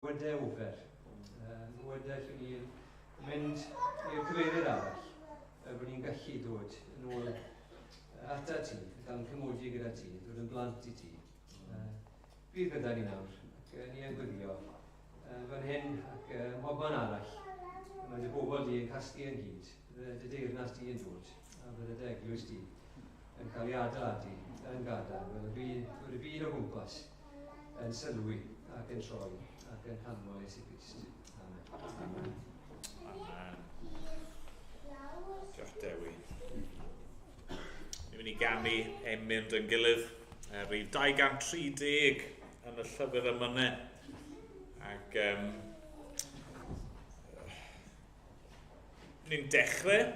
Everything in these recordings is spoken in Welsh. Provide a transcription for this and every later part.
Wedewr, yy, wedais i wrth fynd i'r cyfeirydd arall fel bod ni'n gallu dod yn ôl ata ti, cael ein cymodi gyda ti, dod yn blant i ti. Yy, bydd gyda ni nawr, ac uh, ni yn gwyddio uh, fan hyn ac uh, mhobman arall. Mae dy bobl di yn casglu yn gyd, bydde dy deyrnas di yn dod, a bydde dy eglwys di yn cael ei adeiladu yn gadael, fel y byd, y byd o gwmpas. yn sylwi ac yn troi ac yn hanfon Iesu Grist. Amen. Amen. Amen. Diolch Dewi. Ni'n mynd i gamu ein mynd yn gilydd. Er, rhyw 230 yn y llyfr ymynau. Ac um, Ni'n dechrau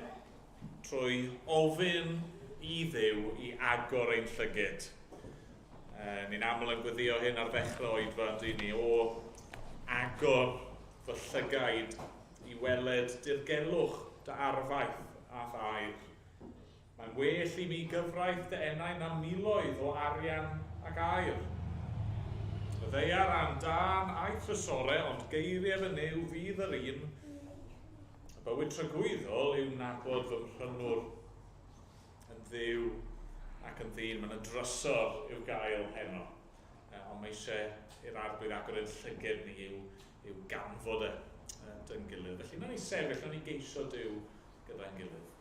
trwy ofyn i Dduw i agor ein llygyd. E, ni'n aml yn gweddio hyn ar ddechrau oedfa, dyn ni, o agor fy llygaid i weled dirgelwch dy arfaeth a dy air. Mae'n well i mi gyfraith dy enau na miloedd o arian ac aur. Y ddaear a'n dân a'i thrysore, ond geirie fy Nuw fydd yr un. Y bywyd tragwyddol yw nabod fy Mhrynwr yn Dduw ac yn ddyn. Mae'n drysor i'w gael heno, ond mae eisiau i'r Arglwydd agor ein llyged ni i'w, i'w ganfod e, dyngilydd. Felly, wnawn ni sefyll, wnawn ni geisio Duw gyda'n gilydd.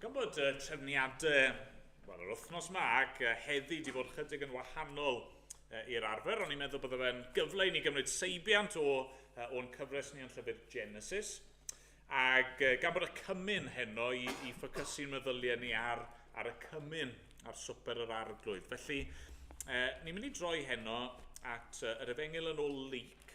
Gan bod y trefniadau wel, yr wythnos yma ac heddi wedi bod chydig yn wahanol i'r arfer, ond i'n meddwl bod fe'n gyfle i ni gymryd seibiant o, o'n cyfres ni yn llyfr Genesis. Ac gan bod y cymyn heno i, i ffocysu'n meddyliau ni ar, ar y cymyn ar swper yr arglwydd. Felly, e, ni'n mynd i droi heno at yr efengil yn ôl Luc,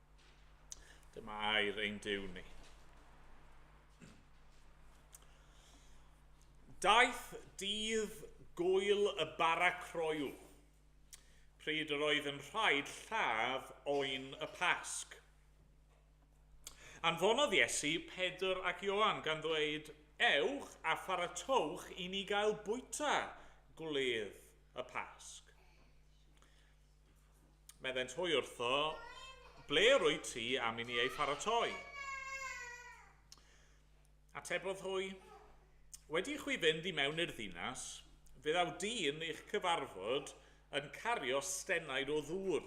Dyma air ein Duw ni. Daeth dydd gwyl y bara croyw, pryd yr oedd yn rhaid lladd oen y Pasg. Anfonodd Iesu Pedr ac Ioan gan ddweud, Ewch a pharatowch i ni gael bwyta gwledd y Pasg. Meddent hwy wrtho, Ble rwyt ti am i ni ei pharatoi? Atebodd hwy, Wedi i chwi fynd i mewn i'r ddinas, fe ddaw dyn i'ch cyfarfod yn cario stenaid o ddŵr.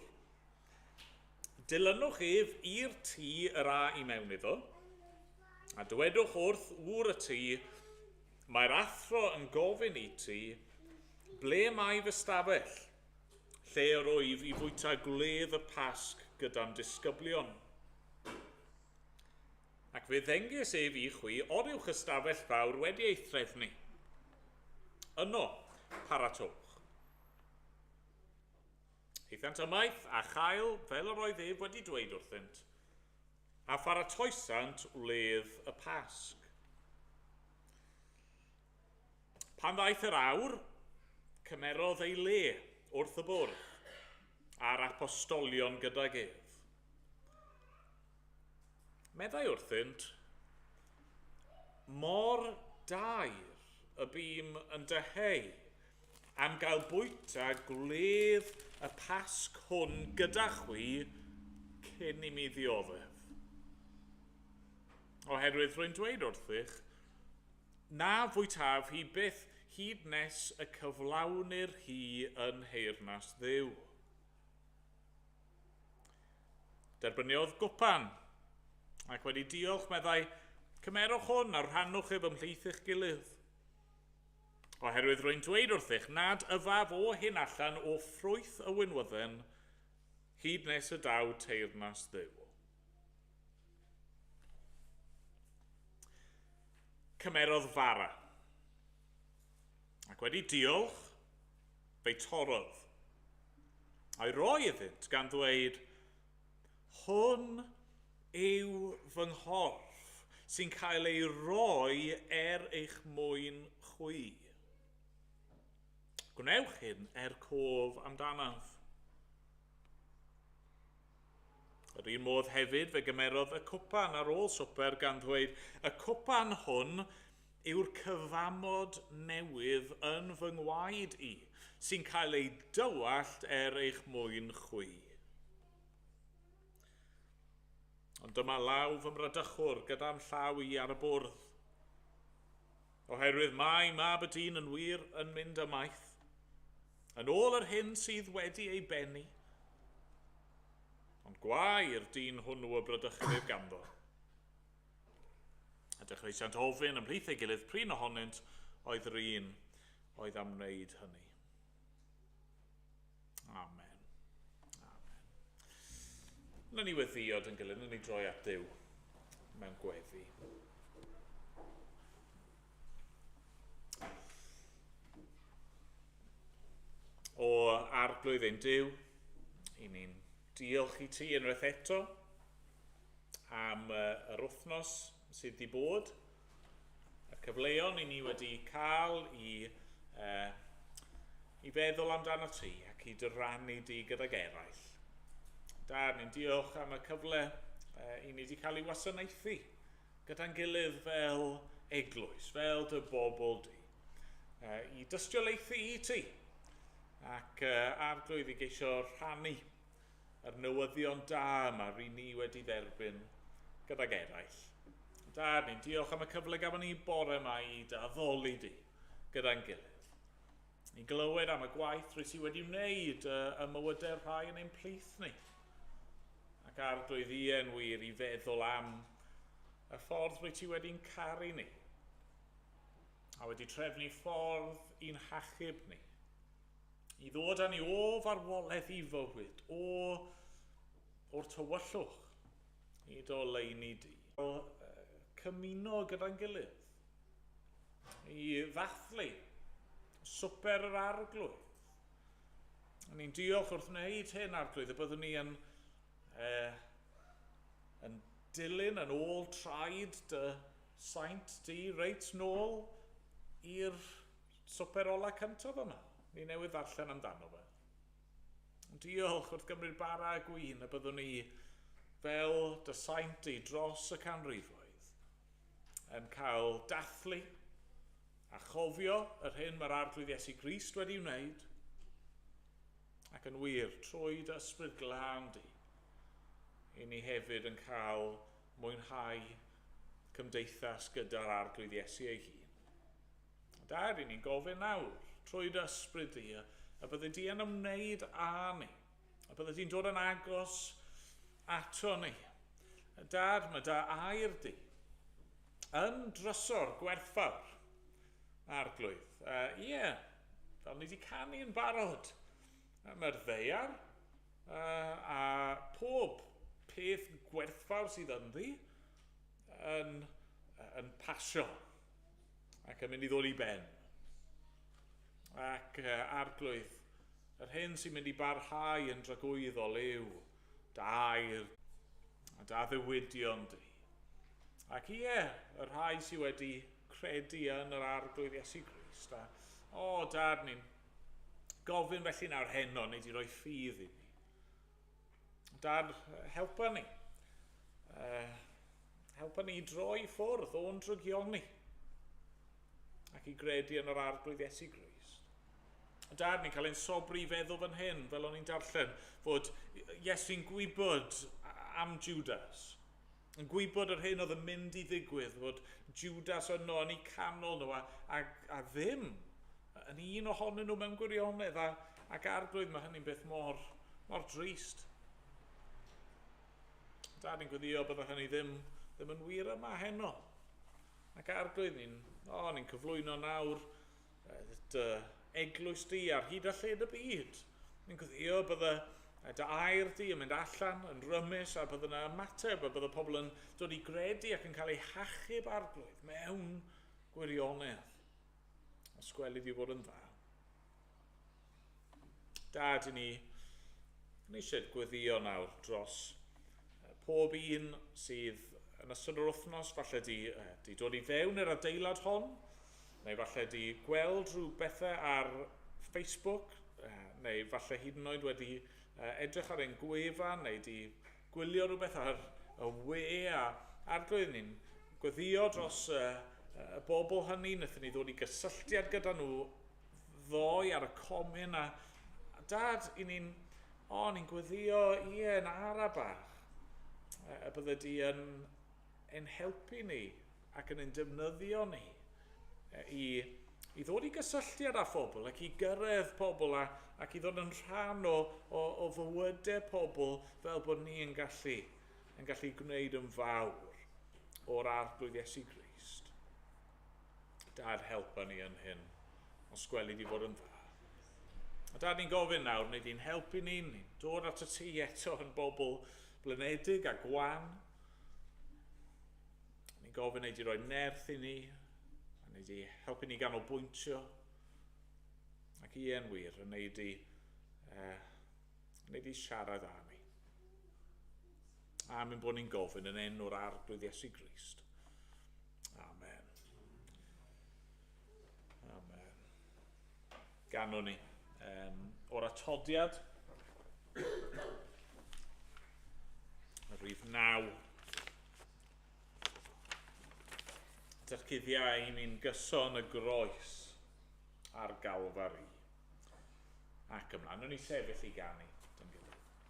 Dilynwch ef i'r tŷ yr a i mewn iddo, a dywedwch wrth ŵr y tŷ, Mae'r athro yn gofyn i ti, Ble mae fy stafell? lle yr oedd i fwyta gwledd y Pasg gyda'n disgyblion. Ac fe ddengys ef i chwi o'r uwch ystafell fawr wedi ei threfnu. Yno, paratowch. Eithant ymaith a chael fel yr oedd ef wedi dweud wrthynt, a pharatoesant wledd y Pasg. Pan ddaeth yr awr, cymerodd ei le wrth y bwrdd, a'r apostolion gydag ef. Meddai wrthynt, mor dair y bîm yn dyheu am gael bwyta gwledd y Pasg hwn gyda chwi cyn i mi ddioddef. Oherwydd rwy'n dweud wrthych, Na fwytaf hi byth hyd nes y cyflawnir hi yn nheyrnas Dduw. Derbyniodd gwpan, ac wedi diolch meddai, Cymerwch hwn a rhannwch ef ymhlith eich gilydd. Oherwydd rwy'n dweud wrthych nad yfaf o hyn allan o ffrwyth y winwydden hyd nes y daw teyrnas Dduw. Cymerodd fara. Ac wedi diolch, fe'i torrodd. A'i roi iddynt gan ddweud, Hwn yw fy nghorff sy'n cael ei roi er eich mwyn chwi. Gwnewch hyn er cof amdanaf. Yr un modd hefyd fe gymerodd y cwpan ar ôl swper gan ddweud, Y cwpan hwn yw'r cyfamod newydd yn fy ngwaed i, sy'n cael ei dywallt er eich mwyn chwi. Ond dyma law fy mradychwr gyda'n llaw i ar y bwrdd. Oherwydd mae mab y dyn yn wir yn mynd ymaith, yn ôl yr hyn sydd wedi ei bennu. Ond gwae i'r dyn hwnnw y bradychwyd ganddo. A dechreusiant ofyn ymhlith ei gilydd prin ohonynt oedd yr un oedd am wneud hynny. Amen. Amen. Lyn ni weddio dyn gilydd, lyn ni droi at Dyw mewn gweddi. O arglwydd ein Dyw, i ni'n diolch i ti unwaith eto am yr wythnos sydd wedi bod. y cyfleon i ni wedi cael i, uh, i feddwl amdano ti ac i dyrannu di gydag eraill. Da, ni'n diolch am y cyfle uh, i ni wedi cael ei wasanaethu gyda'n gilydd fel eglwys, fel dy bobl di, uh, i dystiolaethu i ti ac uh, arglwydd i geisio rhannu a'r newyddion da yma ry ni wedi dderbyn gydag eraill. Dad, ni'n diolch am y cyfle gafon ni bore yma i dy addoli di gyda'n gilydd. Ni'n glywed am y gwaith rwy ti wedi wneud y, y mywydau'r rhai yn ein plith ni. Ac ar doedd ien wir i feddwl am y ffordd rwy ti wedi'n caru ni a wedi trefnu ffordd i'n hachub ni i ddod â ni o farwolaeth i fywyd, o o'r tywyllwch i do leini di. O cymuno gyda'n gilydd, i ddathlu swper yr arglwydd. Ni'n diolch wrth wneud hyn, arglwydd, y byddwn ni yn, e, yn dilyn yn ôl traed dy saint di, reit nôl i'r Swper ola cyntaf yma. Ni newydd ddarllen amdano fe. Diolch wrth Gymru'r bara a gwin y byddwn ni fel dy saint di dros y canrifoedd yn cael dathlu a chofio yr hyn mae'r Arglwydd Iesu Grist wedi wneud ac yn wir trwy dy ysbryd glân di i ni hefyd yn cael mwynhau cymdeithas gyda'r Arglwydd Iesu ei hun. Da, ry'n ni'n gofyn nawr, trwy dy ysbryd di, y, y bydde di yn ymwneud â ni, y bydde di'n dod yn agos ato ni. Dad, mae dy air di yn drysor gwerthfawr, Arglwydd. Uh, ie, yeah, fel ni wedi canu yn barod, mae'r ddeiar uh, a pob peth gwerthfawr sydd ynddi yn, yn pasio. ac yn mynd i ddod i ben. Ac uh, arglwydd, yr hyn sy'n mynd i barhau yn dragwyddol yw dair a da ddiwydion di. Ac ie, y rhai sydd wedi credu yn yr arglwydd Iesu Grist, a o, dad, ni'n gofyn felly nawr heno, neu di roi ffydd i ni. Dad, helpa ni. Uh, helpa ni droi ffwrdd o'n drygion ni ac i gredu yn yr arglwydd Iesu Grist. Dad, ni'n cael ein sobri i feddwl fan hyn, fel o'n i'n darllen, fod Iesu'n gwybod am Judas. yn gwybod yr hyn oedd yn mynd i ddigwydd, fod Jwdas yno yn eu canol nhw, a, a, a ddim yn un ohonyn nhw mewn gwirionedd, a, ac arglwydd, mae hynny'n beth mor, mor drist. Dad, ni'n gweddio byddai hynny ddim, ddim yn wir yma heno. Ac arglwydd, ni'n oh, ni cyflwyno nawr Bydd dy eglwys di ar hyd a lled y byd. Yn gweddio y bydda dy air di yn mynd allan, yn rymus, a bydd yna ymateb, a bydd y pobl yn dod i gredu ac yn cael eu hachub arglwydd mewn gwirionedd. Os gweli di fod yn dda. Da, dyn ni yn eisiau gweddio nawr dros pob un sydd yn ystod yr wythnos, falle di, di dod i fewn i'r adeilad hon, neu falle di gweld rhyw bethau ar Facebook, neu falle hyd yn oed wedi edrych ar ein gwefan, neu di gwylio rhywbeth ar y we a arglwydd ni'n gweddio dros y bobl hynny, wnaethon ni ddod i gysylltiad gyda nhw ddoe ar y comin a, a dad, i ni'n, o, oh, ni'n gweddio, ie, yn ara bach. A, a bydde di yn ein helpu ni ac yn ein defnyddio ni e, i, i ddod i gysylltiad â phobl ac i gyrraedd pobl a, ac i ddod yn rhan o, o, o fywydau pobl fel bod ni yn gallu, yn gallu gwneud yn fawr o'r arglwydd Iesu Grist. Dad, helpa ni yn hyn, os gweli di fod yn dda. A dad, ni'n gofyn nawr, wnei di'n helpu ni, ni'n dod at y ti eto yn bobl blinedig a gwan. Ni'n gofyn ei di roi nerth i ni, a nei di helpu ni ganolbwyntio. Ac i e'n wir, yn ei di, eh, yn ei di siarad â ni. Amen bod ni'n gofyn yn enw'r arglwydd Iesu Grist. Amen. Amen. Ganwn ni. Um, o'r atodiad, y rhif naw. Dych cuddiau i ni'n gyson y groes ar galfari. Ac ymlaen, nhw'n i sefyll i ganu.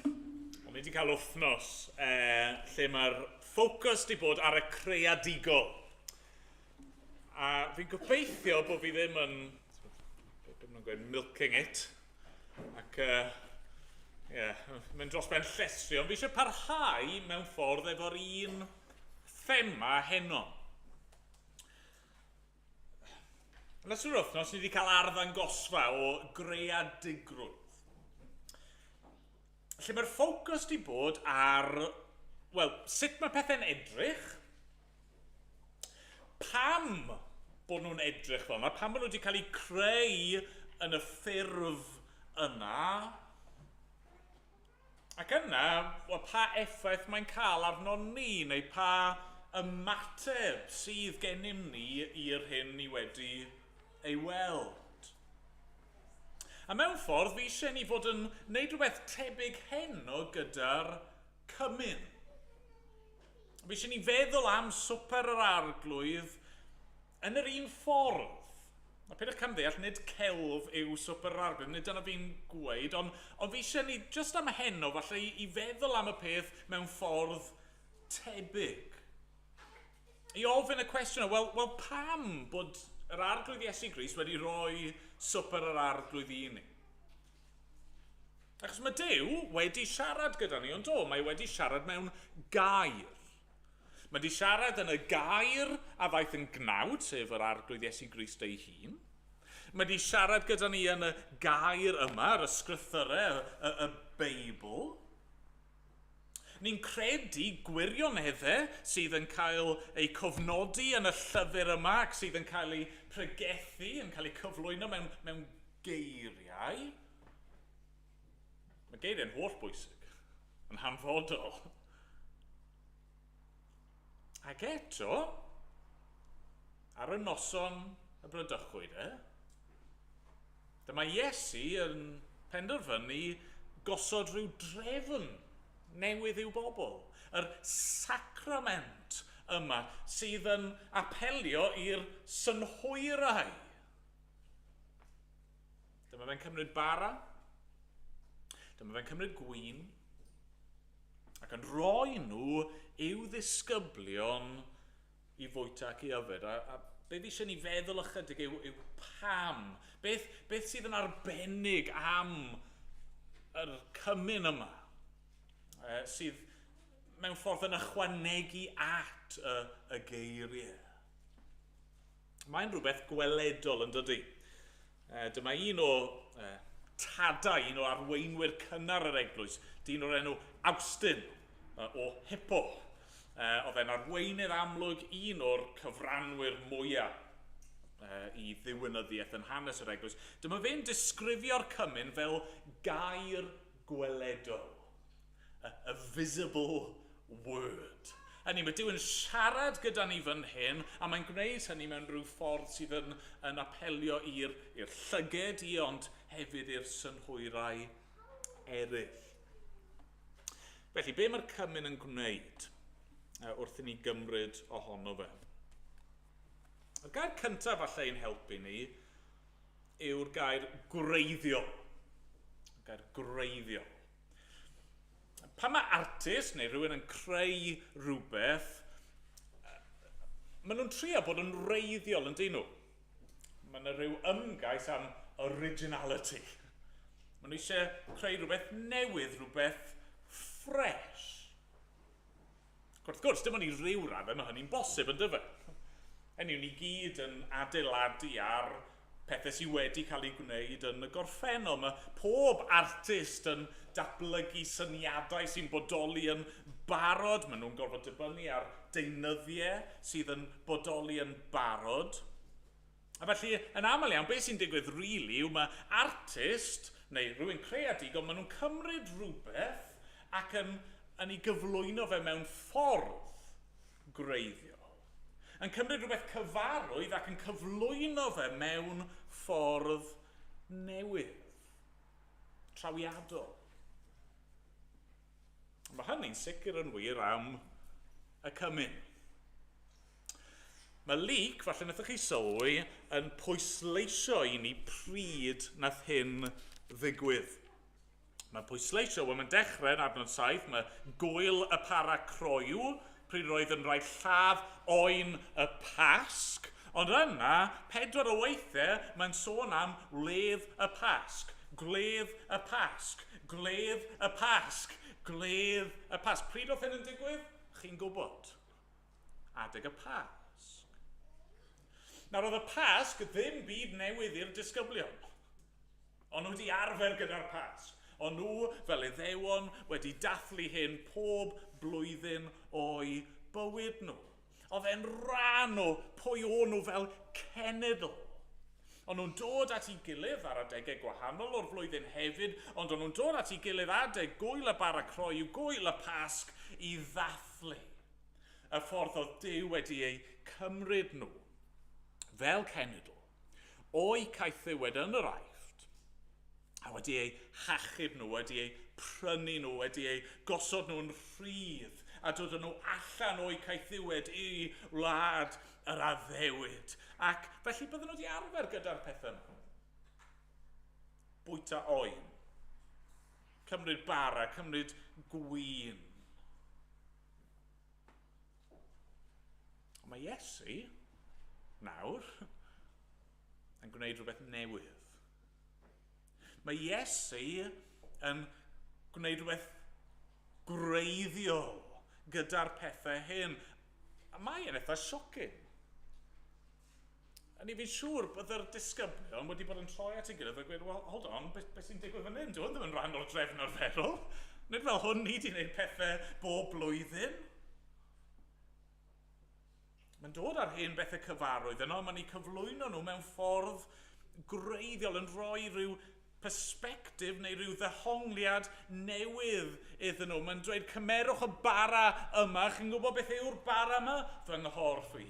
Ond ni wedi cael wythnos eh, lle mae'r ffocws wedi bod ar y creadigol. A fi'n gobeithio bod fi ddim yn... Beth maen gweud? Milking it. Ac, ie, uh, yeah, mae'n dros ben llestri. Ond fi eisiau parhau mewn ffordd efo'r un thema heno. Yn ystod yr wythnos, ni wedi cael arddangosfa o greadigrwydd. Lle mae'r ffocws wedi bod ar, wel, sut mae pethau'n edrych, pam bod nhw'n edrych fel yna, pam bod nhw wedi cael eu creu yn y ffurf yna, Ac yna, wel, pa effaith mae'n cael arnon ni, neu pa ymateb sydd gennym ni i'r hyn ni wedi ei weld? A mewn ffordd, fi eisiau ni fod yn neud rhywbeth tebyg heno gyda'r cymun. Fi eisiau ni feddwl am Swper yr Arglwydd Yn yr un ffordd, a peidiwch camddeall, nid celf yw Swper yr Arglwydd, nid dyna fi'n gweud, ond, ond fi eisiau ni, jyst am heno, falle i, i feddwl am y peth mewn ffordd tebyg. I ofyn y cwestiwn, wel, wel pam bod yr Arglwydd Iesu Grist wedi rhoi Swper yr Arglwydd i ni? Achos mae Duw wedi siarad gyda ni, ond do, mae wedi siarad mewn gair. Mae di siarad yn y gair a ddaeth yn gnawd, sef yr Arglwydd Iesu Grist ei hun. Mae di siarad gyda ni yn y gair yma, yr ysgrythyrau, y, y, y Beibl. Ni'n credu gwirioneddau sydd yn cael eu cofnodi yn y llyfr yma ac sydd yn cael eu pregethu, yn cael eu cyflwyno mewn, mewn geiriau. Mae geiriau'n hollbwysig, yn hanfodol. Ac eto, ar y noson y bradychwyd e, dyma Iesu yn penderfynu gosod rhyw drefn newydd i'w bobl, yr sacrament yma sydd yn apelio i'r synhwyrau. Dyma fe'n cymryd bara. Dyma fe'n cymryd gwyn. Ac yn rhoi nhw i'w ddisgyblion i fwyta ac i yfed. A, a be fi eisiau ni feddwl ychydig yw, yw pam. Beth, beth sydd yn arbennig am yr cymyn yma e, sydd mewn ffordd yn ychwanegu at y, y geiriau. Mae'n rhywbeth gweledol yn dydy. E, dyma un o e, tadau, un o arweinwyr cynnar yr eglwys, dyn o'r enw Awstyn e, o Hippo. E, oedd e'n arweinydd amlwg un o'r cyfranwyr mwyaf e, i ddiwynyddiaeth yn hanes yr eglwys. Dyma fe'n disgrifio'r cymyn fel gair gweledol. A a visible word. Hynny yw, mae Duw yn siarad gyda ni fan hyn, a mae'n gwneud hynny mewn rhyw ffordd sydd yn, yn apelio i'r llyged i, ond hefyd i'r synhwyrau eraill. Felly, be mae'r cymun yn gwneud wrth i ni gymryd ohono fe? Y gair cyntaf falle i'n helpu ni yw'r gair gwreiddio. Y gair gwreiddio. Pan mae artist neu rhywun yn creu rhywbeth, maen nhw'n trio bod yn wreiddiol yn dyn nhw. Mae yna rhyw ymgais am originality. Maen nhw eisiau creu rhywbeth newydd, rhywbeth ffres. Ac wrth gwrs, dim ond i ryw raddau mae hynny'n bosib, yn dyfe? Hynny yw, ni gyd yn adeiladu ar pethau sydd wedi cael eu gwneud yn y gorffennol. Mae pob artist yn datblygu syniadau sy'n bodoli yn barod. Maen nhw'n gorfod dibynnu ar deunyddiau sydd yn bodoli yn barod. A felly, yn aml iawn, be sy'n digwydd rili yw mae artist neu rhywun creadigol, maen nhw'n cymryd rhywbeth ac yn yn ei gyflwyno fe mewn ffordd gwreiddiol. Yn cymryd rhywbeth cyfarwydd ac yn cyflwyno fe mewn ffordd newydd, trawiadol. Mae hynny'n sicr yn wir am y cymun. Mae Luke, falle wnaethoch chi sylwi, yn pwysleisio i ni pryd nath hyn ddigwydd. Mae'n pwysleisio, wel mae'n dechrau yn adnod 7, mae gwyl y para croyw, pryd roedd yn rhaid lladd oen y Pasg, ond yna, pedwar o weithiau, mae'n sôn am wledd y Pasg, gwledd y Pasg, gwledd y Pasg, gwledd y Pasg. Pryd oedd hyn yn digwydd? Chi'n gwybod. adeg y Pasg. Nawr, oedd y Pasg ddim byd newydd i'r disgyblion. O'n nhw wedi arfer gyda'r Pasg. O'n nhw, fel Iddewon, wedi dathlu hyn pob blwyddyn o'u bywyd nhw. Oedd e'n rhan o pwy o'n nhw fel cenedl. O'n nhw'n dod at ei gilydd ar adegau gwahanol o'r flwyddyn hefyd, ond o'n nhw'n dod at ei gilydd adeg gwyl y bara croyw, gwyl y Pasg, i ddathlu. y ffordd oedd Duw wedi eu cymryd nhw fel cenedl o'u caethiwed yn yr Aifft, a wedi eu hachub nhw, wedi eu prynu nhw, wedi eu gosod nhw'n rhydd, a dod â nhw allan o'u caethiwed i wlad yr addewid. Ac felly bydden nhw wedi arfer gyda'r pethau nhw. Bwyta oen. Cymryd bara, cymryd gwin. Ond mae Iesu, nawr, yn gwneud rhywbeth newydd. Mae Iesu yn gwneud rhywbeth gwreiddiol gyda'r pethau hyn. A mae e'n eitha siokin. O'n i fi'n siŵr bod yr disgyblion wedi bod yn troi at ei gilydd a gweud, wel, hold on, beth be sy'n digwydd fan hyn? Dyw hwn ddim yn rhan o'r drefn arferol. Nid fel hwn ni di wneud pethau bob blwyddyn. Mae'n dod ar hen bethau cyfarwydd yno, mae'n ei cyflwyno nhw mewn ffordd gwreiddiol yn rhoi rhyw persbectif neu ryw ddehongliad newydd iddyn nhw. Mae'n dweud, cymerwch y bara yma, chi'n gwybod beth yw'r bara yma? Fy nghorff i.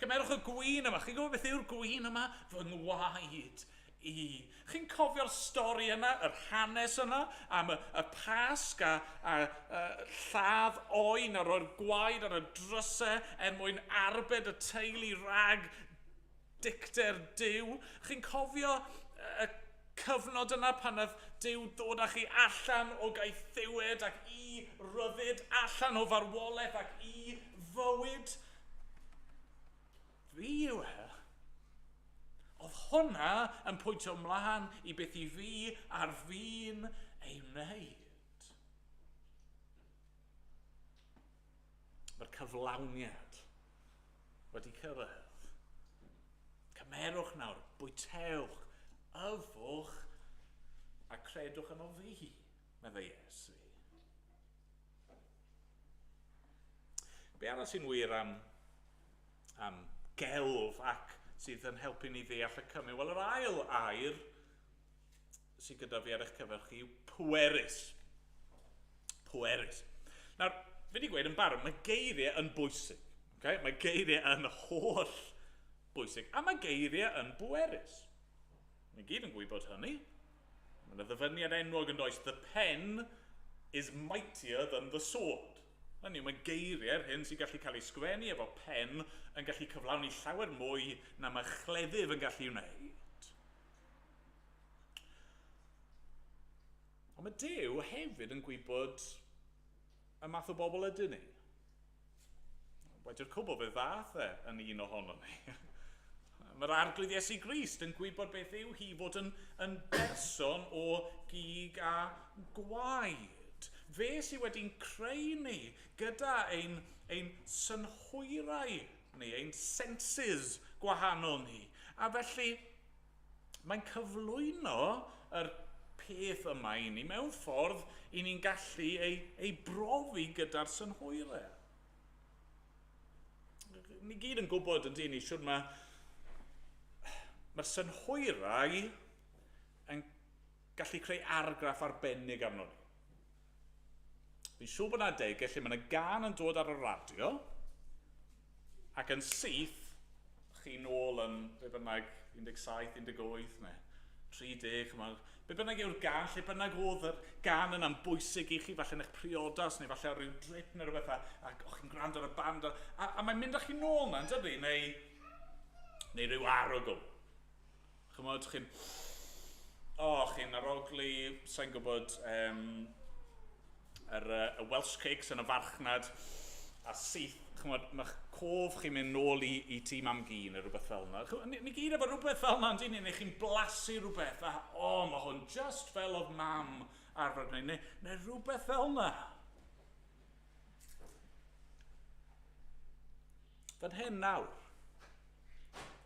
Cymerwch y gwin yma, chi'n gwybod beth yw'r gwin yma? Fy ngwaed i. Chi'n cofio'r stori yna, yr hanes yna, am y, y pasg a, a, a lladd oen a roi'r gwaed ar y drysau er mwyn arbed y teulu rhag Dicter Duw. Chi'n cofio y cyfnod yna pan nath Duw dod â chi allan o gaethiwed ac i ryddid, allan o farwolaeth ac i fywyd? Fi yw e. Oedd hwnna yn pwyntio mlaen i beth i fi ar fin ei wneud? Mae'r cyflawniad wedi cyrraedd. Cymerwch nawr, bwytewch, yfwch, a credwch yno fi, meddai Iesu. Be arall sy'n wir am, am gelf ac sydd yn helpu ni ddeall y cymi? Wel, yr ail air sydd gyda fi ar eich cyfer chi yw pwerus. Pwerus. Nawr, fi wedi gweud yn barod, mae geiriau yn bwysig. Okay? Mae geiriau yn holl bwysig, a mae geiriau yn bwerus. Mae gyd yn gwybod hynny. Mae yna ddyfyniad enwog yn does, the pen is mightier than the sword. Hynny, mae geiriau'r hyn sy'n gallu cael ei sgwennu efo pen yn gallu cyflawni llawer mwy na mae chleddyf yn gallu wneud. Ond mae Duw hefyd yn gwybod y math o bobl ydyn ni. Wedi'r cwbl fe ddath e yn un ohono ni. Mae'r arglwydd Iesu Grist yn gwybod beth yw hi fod yn, yn berson o gig a gwaed. Fe sydd wedi'n creu ni gyda ein, ein synhwyrau neu ein senses gwahanol ni, a felly mae'n cyflwyno yr peth yma i ni mewn ffordd i ni'n gallu ei, ei brofi gyda'r synhwyrau. Ni gyd yn gwybod yn dyn ni siwr mae mae'r synhwyrau yn gallu creu argraff arbennig arno ni. Fi'n siŵr bod yna adegau lle mae yna gan yn dod ar y radio ac yn syth chi nôl yn be bynnag 17, 18 neu 30, chymod, be bynnag yw'r gan, lle bynnag oedd yr gan yna'n bwysig i chi, falle yn eich priodas neu falle ar ryw drip neu rhywbeth a, a o'ch chi'n gwrando ar y band a, a, a mae'n mynd â chi nôl na, yn dydy, neu, neu rhyw arogl. Ch'mod, chi'n o, chi'n arogli, sa'n gwybod, um, yr, uh, y Welsh Cakes yn y farchnad, a syth, ch'mod, mae'ch cof chi'n mynd nôl i, i tîm am gi neu rhywbeth fel yna. Ni, ni gyd efo rhywbeth fel yna, ni, neu chi'n blasu rhywbeth, a o, oh, mae hwn just fel oedd mam arfer gwneud, neu, neu rhywbeth fel yna. Fan hyn nawr,